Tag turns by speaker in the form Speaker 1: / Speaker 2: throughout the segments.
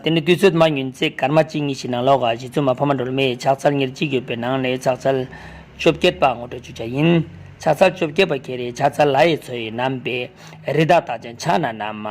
Speaker 1: དེ་ནི་དུས་ཚོད་མ་ཉུལ་ཚེ་སྐར་མ་གཅིག་གཉིས་ཤིག་ནང་ལོགས་ཀ་བཞི་བཙུན་མ་ཕ་མ་སྒྲོལ་མས་ཕྱག་ཚལ་ཉེར་གཅིག་ཡོད་པའི་ནང་ནས་ཕྱག་ཚལ་བཅོ་བརྒྱད་པ་ངོ་སྤྲོད་བྱུ་བྱ་ཡིན། ཕྱག་ཚལ་བཅོ་བརྒྱད་པ་གྱི་རེས་ཕྱག་ཚལ་ལྷ་ཡི་ཚོ་ཡི་རྣམ་པས་རི་དྭགས་དག་ཅིང་ཕྱག་ན་ན་མ།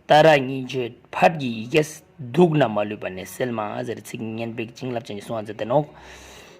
Speaker 1: རྟ་ར་གཉིས་མཆོད་ཕར་གྱི་ཡི་གེ། གདུགས་ན་མ་ལུས་པ་ནས་སེལ་མ། ཟེར་ཚིག་སྙན་པའི་བྱིན་རླབས་ཅན་གྱི་གསུང་བ་མཛད་དེ་ནོག།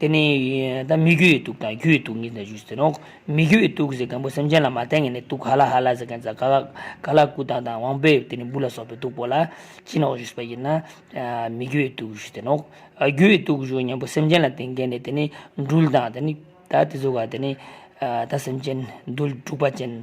Speaker 1: དེ་ནི་ད་མི་རྒྱུད་ཡི་དུག་དང་རྒྱུད་ཡི་དུག་གཉིས་ཟླ་ཞུས་ཟེར་རོ། མི་རྒྱུད་ཡི་དུག་ཟེར་མཁན་པོ་སེམས་ཅན་ལ་མ་བསྟན་མཁན་ནི་དུག་ག་ལ་ཧ་ལ་ཟེར་མཁན་ཛ་ཀ་ཀ་ལ་ཀུ་ཏང་དང་དབང་པོའི་དེ་ནི་འབུ་ལ་སོགས་པའི་དུག་པོ་ལ་ཅི་ནོག་ཞུས་པ་ཡིན་ན། མི་རྒྱུད་ཡི་དུག་ཞུས་ཟེར་ནོ། རྒྱུད་ཡི་དུག་ཞུས་མཁན་པོ་སེམས་ཅན་ལ་བསྟེན་མཁན་ནི་དེ་ནི་འདུལ་དང་དེ་ནི་ད་དེ་ཚོ་ག་དེ་ནི་ད་སེམས་ཅན་འདུལ་དཀྲུགས་པ་ཅན།